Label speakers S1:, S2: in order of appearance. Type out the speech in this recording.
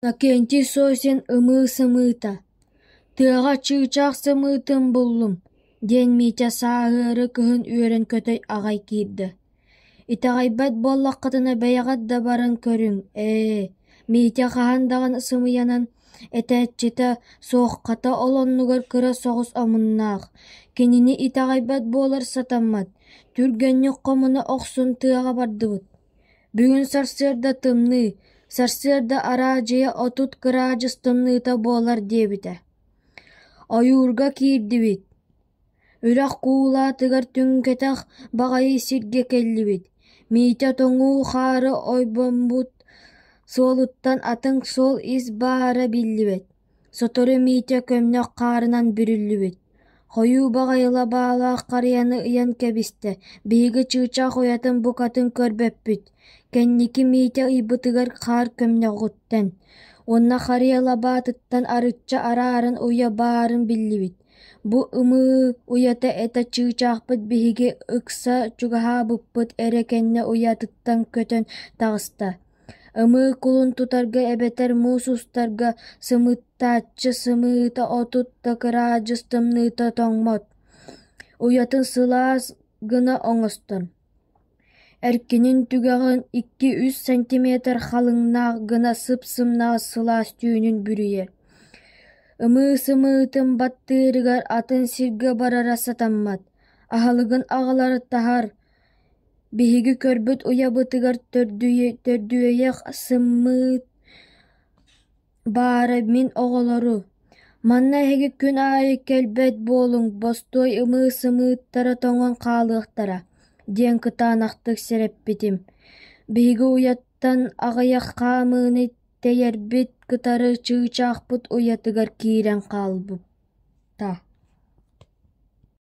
S1: Иннокентий Сосин ымыы сымыыта: «Тыаҕа чыычаах сымыытын буллум» диэн Митя сааһыары кыһын үөрэн көтөй аҕай киирдэ. «Итэҕэйбэт буоллаххытына бэйэҕит да баран көрүҥ ээ» Митя хаһан даҕаны сымыйанан этээччитэ суох хата ол оннугар кыра соҕус омуннаах, кинини итэҕэйбэт буолар сатаммат, түргэнник хомуна охсон тыаҕа бардыбыт Бүгүн сарсыарда тымныы, сарсыарда араа дьиэ отут кыраадьыс тымныыта буолар диэбитэ. Ойуурга киирдибит. Үрэх куулаатыгар түҥкэтэх баҕайы сиргэ кэллибит. Миитэ тоҥуу хаары ойбоммут суолуттан атын суол ис баара биллибэт Сотору Митя көмнөх хаарынан бүрүллүбүт, хойуу баҕайылаах баалаах харыйаны ыйан кэбистэ, биһиги чыычаах уйатын букатын көрбөппүт, кэнники Митя ыйбытыгар хаар көмнөҕүттэн, уонна харыйа лабаатыттан арычча араарын уйа баарын биллибит, бу ымыы уйата этэ чыычаахпыт биһиги ыкса чугаһаабыппыт эрэ кэннэ уйатыттан көтөн таҕыста Ымыы кулун тутарга эбэтэр муус устарга сымыыттааччы сымыыта отут да кыраадьыс тымныыта тоҥмот, уйатын сылаас гына оҥостон, эркинин түгэҕин икки-үс сантиметр халыҥнаах гына сып-сымнаҕас сылаас түүнүн бүрүйэр. Ымыы сымыытын баттыырыгар атын сиргэ барара сатаммат, аһылыгын аҕалар таһар, Биһиги көрбүт уйабытыгар төрдүөйэх сыммыыт баара мин оҕолору: «Манна эһиги күн аайы кэлбэт буолуҥ, бостуой ымыы-сымыыттара тоҥон хаалыахтара» диэн кытаанахтык сэрэппитим. Биһиги уйаттан аҕыйах хаамыыны тэйэрбит кытары чыычаахпыт уйатыгар киирэн хаалбыта